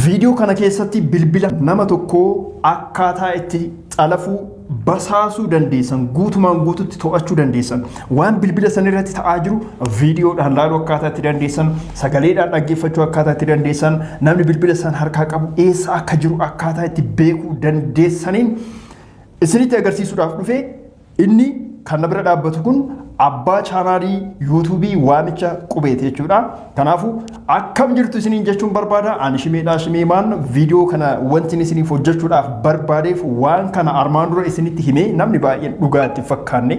Viidiyoo kana keessatti bilbila nama tokkoo akkaataa itti xalafuu basaasuu dandeessan guutumaan guututti to'achuu dandeessan waan bilbila san irratti ta'aa jiru viidiyoodhaan laaluu akkaataa itti dandeessan sagaleedhaan dhaggeeffachuu akkaataa itti dandeessan namni bilbila san harkaa qabu eessa akka jiru akkaataa itti beekuu dandeessaniin isinitti agarsiisuudhaaf dhufee Inni kan na bira dhaabbatu kun abbaa chaanaalii yuutuubii waamicha qubeeti jechuudha. Kanaafuu akkam jirtu isiniin jechuun barbaada. Ani shimeedhaa shimeemaan viidiyoo kana wanti isiniif hojjechuudhaaf barbaadeef waan kana armaan dura isinitti himee namni baay'een dhugaa itti fakkaanne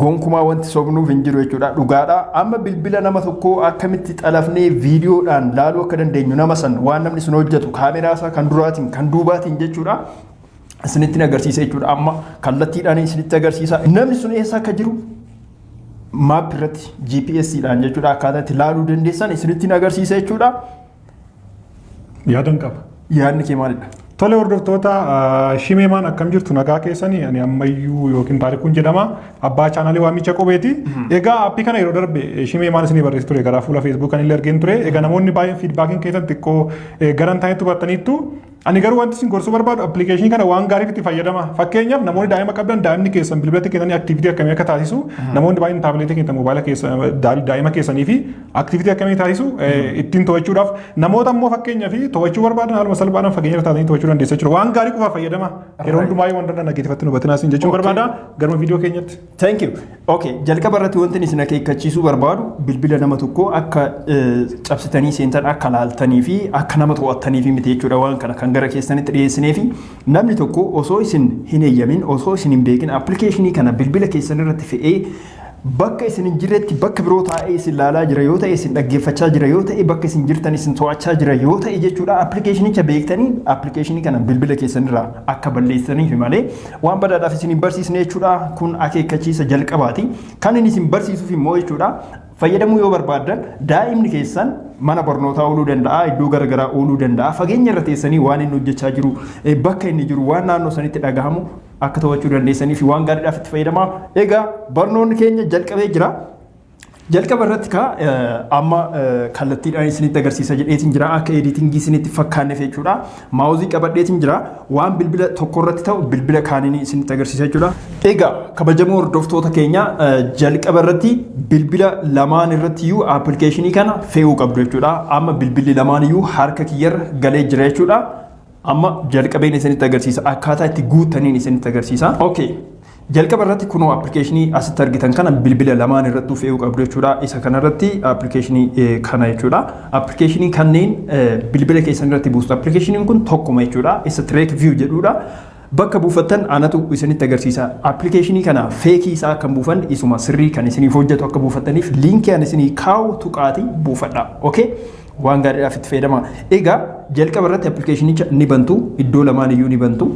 gonkumaa wanti sobnuuf hin jiru jechuudha dhugaadha amma bilbila nama tokko akkamitti xalafnee viidiyoodhaan laaluu akka dandeenyu nama san waan namni sun hojjetu kaameraa isaa kan duraatiin kan duubaatiin jechuudha isinitti agarsiisa jechuudha. Amma kallattiidhaan isinitti agarsiisa. Namni sun eessa akka jiru maap irratti GPS dhaan jechuudha akkaataa itti ilaaluu dandeessan isinitti agarsiisa jechuudha. Yaadan qaba. Yaadni kee maalidha? Tole hordoftoota shimeemaan akkam jirtu nagaa keessanii ani ammayyuu yookiin taarikuun jedhama abbaa chaanaalii waamicha qubeeti. Egaa appii kana yeroo darbe shimeemaan isinii barreessi ture garaa fuula feesbuukaan illee argeen ture. Egaa namoonni baay'een fiidbaakiin keessan xiqqoo garan ta'etti hubattaniittu. Ani garuu wanti isin gorsuu barbaadu appilikeeshinii kana waan gaariif itti fayyadama. Fakkeenyaaf namoonni daa'ima qabdan daa'imni keessan bilbilatti kennanii aktiivitii akkamii akka taasisu namoonni baay'een taabileetii keessan moobaayila keessa daa- daa'ima keessanii fi aktiivitii akkamii taasisu eh, ittiin to'achuudhaaf namoota immoo fakkeenyaaf to'achuu barbaadan haaluma salphaadhaan fageenya irra taatanii to'achuu dandeessa jechuudha. Waan gaarii qofaaf fayyadama. Yeroo Right. hundumaa yoo waan danda'an dhageeffattan hubatinaa isin jechuun Okay. barbaada. Garuma viidiyoo keenyatti. Thank you. Okay, jalqaba irratti wanti isin akeekkachiisuu barbaadu bilbila nama tokkoo akka eh, cabsitanii seentan akka laaltanii fi akka nama to'attaniif miti jechuudha waan kana kan gara keessanitti dhiyeessinee fi namni tokko osoo isin hin eeyyamin osoo isin hin beekin appilikeeshinii kana bilbila keessan irratti fe'ee bakka isin hin jirretti bakka biroo taa'ee isin laalaa jira yoo ta'e isin dhaggeeffachaa jira yoo ta'e bakka isin jirtan isin to'achaa jira yoo ta'e jechuudha appilikeeshinicha beektanii appilikeeshinii kana bilbila keessan irraa akka balleessaniif malee Waan badaadhaaf isin hin barsiisne jechuudha. Kun akeekkachiisa jalqabaati. Kan inni isin barsiisuuf immoo jechuudha. Fayyadamuu yoo barbaaddan daa'imni keessan mana barnootaa ooluu danda'a, iddoo garaagaraa ooluu danda'a. Fageenya irra teessanii waan inni hojjechaa jiru, bakka inni jiru, waan naannoo sanitti dhagahamu akka to'achuu dandeessanii fi waan gaariidhaaf itti fayyadamaa. Egaa barnoonni keenya jalqabee jira. Jalqaba irratti kaa amma kallattiidhaan isinitti agarsiisa jedheetiin jira akka editingii isinitti fakkaanneef jechuudha. Maawuzii qabadheetiin jira waan bilbila tokko irratti ta'u bilbila kaaniin isinitti agarsiisa jechuudha. Egaa kabajamoo hordoftoota keenya jalqaba irratti bilbila lamaan irratti iyyuu appilikeeshinii kana fe'uu qabdu jechuudha. Amma bilbilli lamaan iyyuu harka kiyyarra galee jira jechuudha. Amma jalqabeen isinitti agarsiisa akkaataa itti guuttaniin isinitti agarsiisa. Okay. Jalqaba irratti kunoo appilikeeshinii asitti argitan kana bilbila lamaan irrattuu fe'uu qabdu jechuudha. Isa kana irratti appilikeeshinii kana jechuudha. Appilikeeshinii kanneen bilbila keessan irratti buustu. Appilikeeshiniin kun tokkuma jechuudha. Isa Trek View jedhudha. Bakka buufattan anatu isinitti agarsiisa. Appilikeeshinii kana feekii isaa kan buufan isuma sirrii kan isiniif hojjetu akka buufattaniif liinkii ani isinii kaa'u tuqaati buufadha. Okay? Waan gaariidhaaf itti fayyadama. Egaa jalqaba irratti appilikeeshinicha ni bantu. Iddoo lamaan iyyuu ni bantu.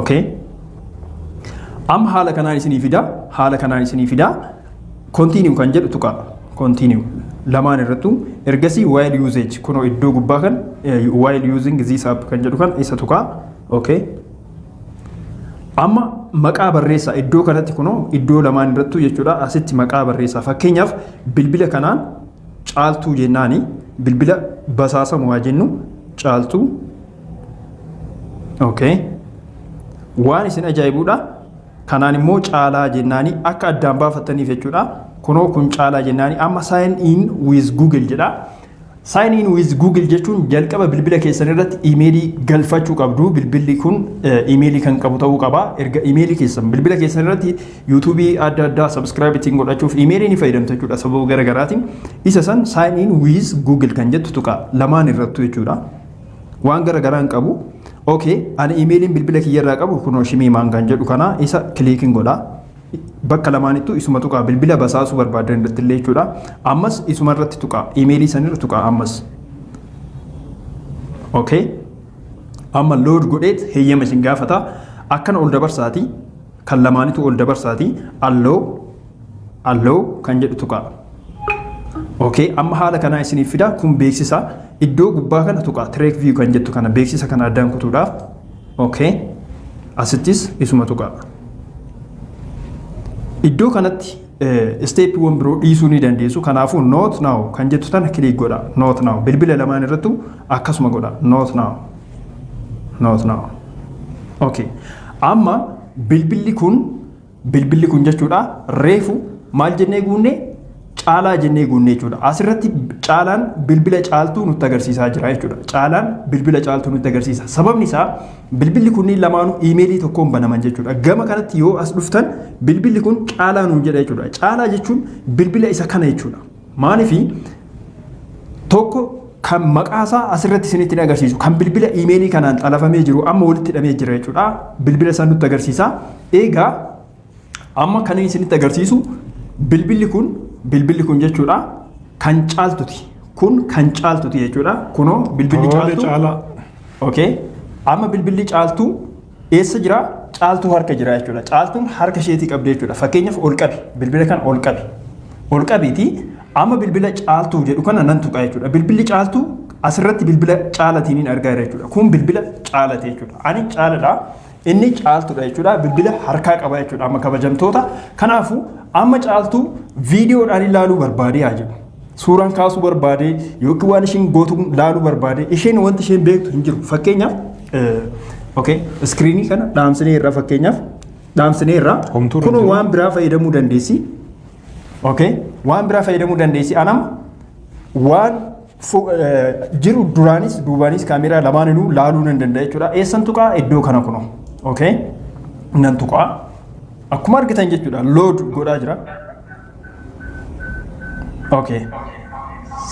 okay amma haala kanaan isinii fida haala kanaan isinii fida continue kan jedhu tuqa continue lamaan irrattu ergasii while usage kunoo iddoo gubbaa kan eh, while using this app kan jedhu kan isa tuqa okay amma maqaa barreessaa iddoo kanatti kunoo iddoo lamaan irrattu jechuudha asitti maqaa barreessaa fakkeenyaaf bilbila kanaan caaltuu jennaani bilbila basaasamu haa jennu caaltuu Okay. Waan isin ajaa'ibuudha. Kanaan immoo caalaa jennaanii akka addaan baafattaniif jechuudha. Kunoo kun caalaa jennaanii amma sign in with Google jedha. Sign in with Google jechuun jalqaba bilbila keessan irratti imeelii galfachuu qabdu. Bilbilli kun imeelii kan qabu ta'uu qaba. Erga imeelii keessan bilbila keessan irratti yuutuubii adda addaa subscribe ittiin godhachuuf imeelii ni fayyadamtu jechuudha sababa garaagaraatiin. Isa san sign in with Google kan jettu tuqa lamaan irrattu jechuudha. waan gara garaa hin qabu. Okay, ani imeeliin bilbila kiyya irraa qabu kunoo shimii maangaan jedhu kana isa kiliikin godha. Bakka lamaanittuu isuma tuqaa bilbila basaasuu barbaadan irratti illee jechuudha. Ammas isuma irratti tuqaa imeelii sanirra tuqaa ammas. Okay. Amma load godheet heeyyama isin gaafata. Akkana ol dabarsaati kan lamaanitu ol dabarsaati allow Allow kan jedhu tuqaa. Okay, amma haala kanaa isiniif fidaa kun beeksisa iddoo gubbaa kana tuqaa track view kan jettu kana beeksisa kana addaan kutuudhaaf. Okay, asittis isuma tuqaa. Iddoo kanatti isteeppiiwwan biroo dhiisuu ni dandeessu. Kanaafuu not now kan jettu tana kiliik godha. Not now bilbila lamaan irrattu akkasuma godha. Not now. Not now. Okay. Amma bilbilli kun Bilbilli kun jechuudha reefu maal jennee guunne caalaa jennee guunne jechuudha. Asirratti caalaan bilbila caaltuu nutti agarsiisaa jira jechuudha. Caalaan bilbila caaltuu nutti agarsiisa. Sababni isaa bilbilli kunniin lamaanuu iimeelii tokkoon banaman jechuudha. Gama kanatti yoo as dhuftan bilbilli kun caalaa nuun jedha jechuudha. Caalaa jechuun bilbila isa kana jechuudha. Maalifi tokko kan maqaa isaa asirratti isinitti hin agarsiisu. Kan bilbila iimeelii kanaan xalafamee jiru amma walitti hidhamee jira jechuudha. Bilbila isaa nutti agarsiisa. Egaa amma kan isinitti agarsiisu bilbilli kun bilbilli kun jechuudha kan caaltuti. Kun kan caaltuti jechuudha. Kunoo bilbilli Tole caaltu. caalaa. Okay. Amma bilbilli caaltu Eessa jira? Caaltuu harka jira jechuudha. Caaltuun harka isheetii qabdee jechuudha. Fakkeenyaaf ol qabi. Bilbila kana ol qabi. Ol qabiiti amma bilbila caaltuu jedhu kana nan tuqa jechuudha. Bilbilli caaltuu asirratti bilbila caalatiin hin argaa jira jechuudha. Kun bilbila caalati jechuudha. Ani caaladha. Inni caaltuudha jechuudha. Bilbila harkaa qaba jechuudha. Amma kabajamtoota. Kanaafuu amma caaltuu viidiyoodhaan ilaaluu barbaadee haa jedhu. suuraan kaasuu barbaade yookiin waan isheen gootu laaluu barbaade isheen wanti isheen beektu hin jiru. Fakkeenyaaf okay iskiriinii kana dhaamsinee irraa fakkeenyaaf dhaamsinee irraa Homtuu kun irratti. waan biraa fayyadamuu dandeessi. Okay waan biraa fayyadamuu dandeessi anam waan fu- eh, jiru duraanis duubaanis kaameeraa lamaaninuu laaluu nan danda'a jechuudha. Eessan tuqaa iddoo kana kunoo. Okay nan tuqaa akkuma argitan jechuudha load godhaa jira. Okay.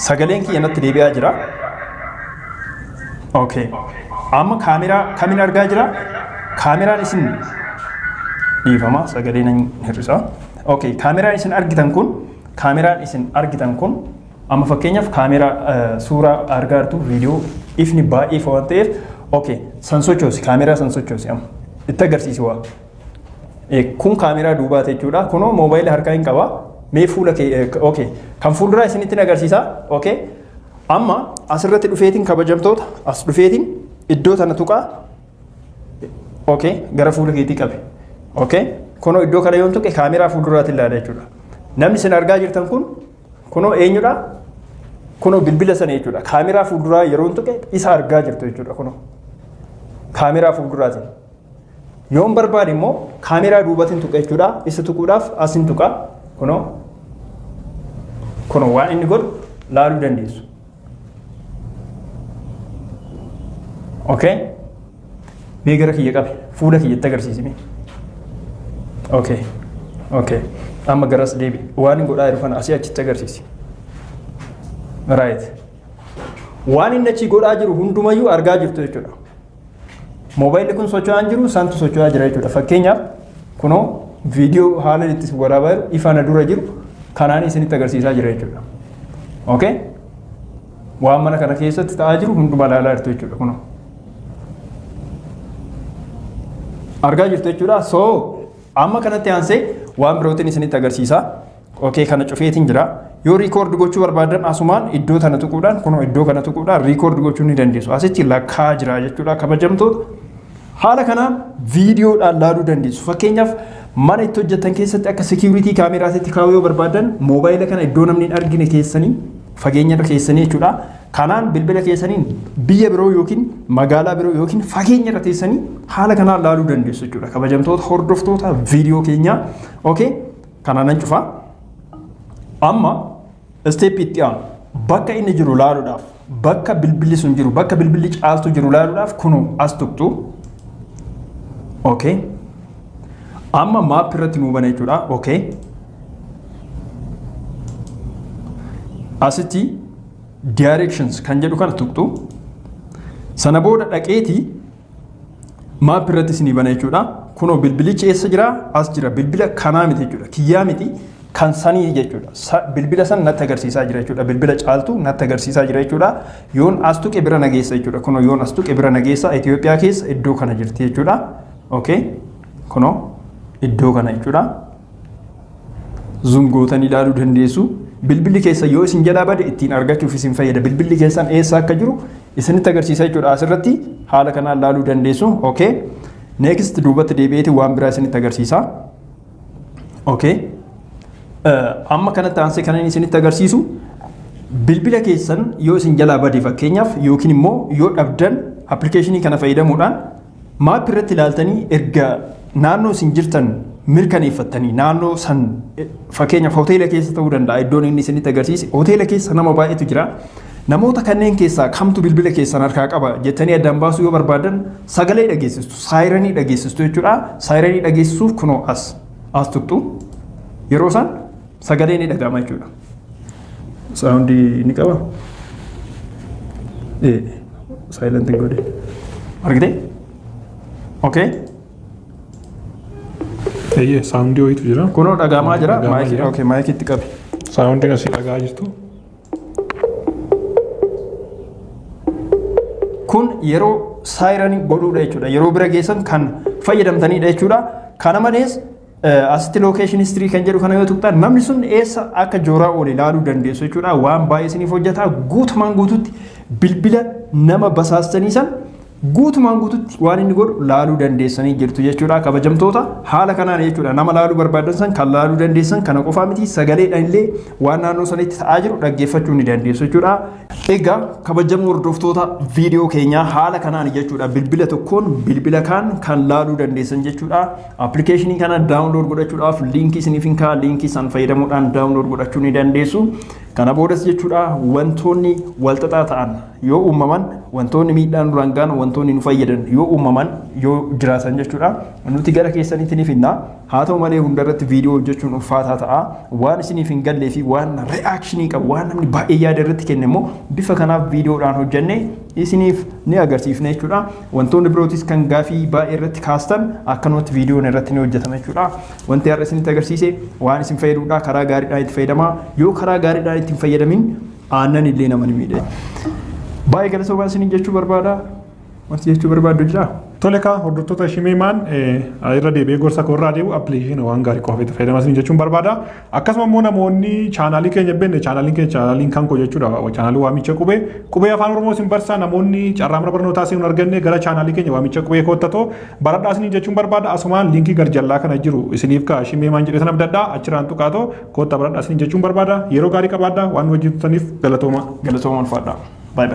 Sagaleen kiyya natti deebi'aa jira. Okay. Amma kaameraa kamin argaa jira? Kaameraan isin dhiifama sagalee nan hir'isa. Okay. Kaameraan isin argitan kun kaameraan isin argitan kun amma fakkeenyaaf kaameraa eh, suuraa argaa jirtu viidiyoo ifni baay'ee ifa waan ta'eef okay san sochoosi kaameraa san sochoosi amma itti agarsiisi waa. Kun kaameraa duubaati jechuudha. Kunoo moobaayila harkaa hin qaba. Mee fuula kee okay. Kan fuulduraa isinittiin agarsiisa. Okay. Amma asirratti dhufeetiin kabajamtoota as dhufeetiin iddoo tana tuqaa. Okay. Gara fuula keetii qabe. Okay. Kunoo iddoo kana yoon tuqe kaameraa fuulduraatti ilaala jechuudha. Namni isin argaa jirtan kun kunoo eenyudha? Kunoo bilbila sana jechuudha. Kaameraa fuulduraa yeroon tuqe isa argaa jirtu jechuudha kunoo. Kaameraa fuulduraatiin. Yoon barbaade immoo kaameeraa duubatiin tuqa jechuudha. Isa tuquudhaaf asin tuqa. Kunoo kunoo waan inni godhu laaluu dandeessu. Okay? Mee gara kiyya qabe fuula kiyyatti agarsiisime. Okay. Okay. Amma garas deebi. Waan inni godhaa jiru kana asii achitti agarsiisi. Right. Waan inni achi godhaa jiru hundumayyuu argaa jirtu jechuudha. Moobaayilli kun socho'aa hin jiru santu socho'aa jira jechuudha. Fakkeenyaaf kunoo viidiyoo haala itti waraabaa jiru ifa na dura jiru kanaan isinitti agarsiisaa jira jechuudha. Okay? Waan mana kana keessatti ta'aa jiru hunduma ilaalaa jirtu jechuudha kunoo. Argaa jirtu jechuudha. So amma kanatti aansee waan birootiin isinitti agarsiisaa. Okay kana cufeetiin jira. Yoo record gochuu barbaadan asumaan iddoo tana tuquudhaan kunoo iddoo kana tuquudhaan record gochuu ni dandeessu. Asitti lakkaa jira jechuudha kabajamtoota. Haala kanaan viidiyoodhaan laaluu dandeessu. Fakkeenyaaf mana itti hojjetan keessatti akka security kaameraatitti kaa'uu yoo barbaadan moobaayila kana iddoo namni hin argine keessanii fageenya irra keessanii jechuudha. Kanaan bilbila keessaniin biyya biroo yookiin magaalaa biroo yookiin fageenya irra teessanii haala kanaan laaluu dandeessu jechuudha. Kabajamtoota hordoftoota viidiyoo keenyaa. Okay. Kana nan cufa. Amma isteeppii itti aanu bakka inni jiru ilaaluudhaaf bakka bilbilli sun jiru bakka bilbilli caaltuu jiru ilaaluudhaaf kunuu as tuqxu. Okay. Amma maap irratti nuu bana jechuudha. Okay. Asitti directions kan jedhu kana tuqxu. Sana booda dhaqeetii maap irratti isinii bana jechuudha. Kunoo bilbilichi eessa jira? As jira. Bilbila kanaa miti jechuudha. Kiyyaa miti kan sanii jechuudha. Bilbila san natti agarsiisaa jira jechuudha. Bilbila caaltu natti agarsiisaa jira jechuudha. Yoon as tuqe bira nageessa jechuudha. Kunoo yoon as tuqe bira nageessa Itoophiyaa keessa iddoo kana jirti jechuudha. Okay. Kunoo iddoo kana jechuudha. Zoom gootanii ilaaluu dandeessu. Bilbilli keessa yoo isin jalaa bade ittiin argachuuf isin fayyada. Bilbilli keessan eessa akka jiru isinitti agarsiisa jechuudha. Asirratti haala kanaan ilaaluu dandeessu. Okay. Next duubatti deebi'eeti waan biraa isinitti agarsiisa. Okay. Amma kanatti aansee kan inni isinitti agarsiisu bilbila keessan yoo isin jalaa bade fakkeenyaaf yookiin immoo yoo dhabdan appilikeeshinii kana fayyadamuudhaan Maap irratti ilaaltanii erga naannoo isin jirtan mirkaneeffattanii naannoo san fakkeenyaaf hoteela keessa ta'uu danda'a iddoon inni isinitti agarsiise hoteela keessa nama baay'eetu jira. Namoota kanneen keessaa kamtu bilbila keessan harkaa qaba jettanii addaan baasuu yoo barbaadan sagalee dhageessistu saayiranii dhageessistu jechuudha. Saayiranii dhageessisuuf kunoo as as tuqxu yeroo san Sagalee ni dhaga'ama jechuudha. Saawundii ni qaba. Ee, saayilent hin godhe. Argitee? Okay. Eeyyee saawundii wayiitu jira. Kunoo dhaga'amaa jira. Dhaga'amaa Maayikii jira. okay, maayikii itti qabi. Saawundii asii dhagaa jirtu. Kun yeroo saayiranii godhuudha jechuudha. Yeroo bira geessan kan fayyadamtanidha jechuudha. Kana malees Asitti location history kan jedhu kana yoo tuqxan namni sun eessa akka jooraa oole ilaaluu dandeessu jechuudha. Waan baay'ee isiniif hojjeta. Guutumaan guututti bilbila nama basaastanii san guutumaan guututti waan inni godhu laaluu dandeessanii jirtu jechuudha. Kabajamtoota haala kanaan jechuudha nama laaluu barbaadan san kan laaluu dandeessan kana qofaa miti sagaleedhaan illee waan naannoo sanitti ta'aa jiru dhaggeeffachuu ni dandeessu jechuudha. Egaa kabajamoo hordoftoota viidiyoo keenyaa haala kanaan jechuudha bilbila tokkoon bilbila kaan kan laaluu dandeessan jechuudha. Appilikeeshinii kana daawunlood godhachuudhaaf liinkii isiniif hin kaa'a. Liinkii san fayyadamuudhaan daawunlood godhachuu ni dandeessu. Kana boodas jechuudha wantoonni walxaxaa ta'an yoo uumaman wantoonni miidhaan nurraan ga'an wantoonni nu fayyadan yoo uumaman yoo jiraatan jechuudha nuti gara keessanitti ni fidna. Haa ta'u malee hundarratti viidiyoo hojjechuun ulfaataa ta'a. Waan isiniif hin gallee fi waan re'aakshinii qabu waan namni baay'ee yaada irratti kenne immoo bifa kanaaf viidiyoodhaan hojjennee isiniif ni agarsiifna jechuudha. Wantoonni birootis kan gaafii baay'ee irratti kaastan akkanumatti viidiyoon irratti ni hojjetama jechuudha. Wanti har'a isinitti agarsiise waan isin fayyadudha. Karaa gaariidhaan itti fayyadamaa. Yoo karaa gaariidhaan itti hin fayyadamin aannan illee nama ni miidha. Baay'ee galatoomaa isiniin jechuu barbaada. Wanti jechuu barbaaddu jira? Tole kaa hordoftoota Shimeemaan irra deebi'ee gorsa koo irraa deebi'u appilikeeshina waan gaarii qofa itti fayyadamaa isiniin jechuun barbaada. Akkasuma immoo namoonni chaanaalii keenya beekne chaanaaliin keenya chaanaaliin kan koo jechuudha chaanaalii waamicha qubee qubee afaan oromoo isin barsaa namoonni carraa mana barnootaa isin arganne gara chaanaalii keenya waamicha qubee koottatoo baradhaa isin jechuun barbaada asumaan liinkii gar jallaa kana jiru isiniif kaa shimee maan jedhee sana abdadhaa achirraan tuqaatoo koottaa baradhaa isin jechuun barbaada yeroo gaarii qabaadhaa waan wajjin turtaniif galatooma galatooma ulfaadhaa. Bye bye.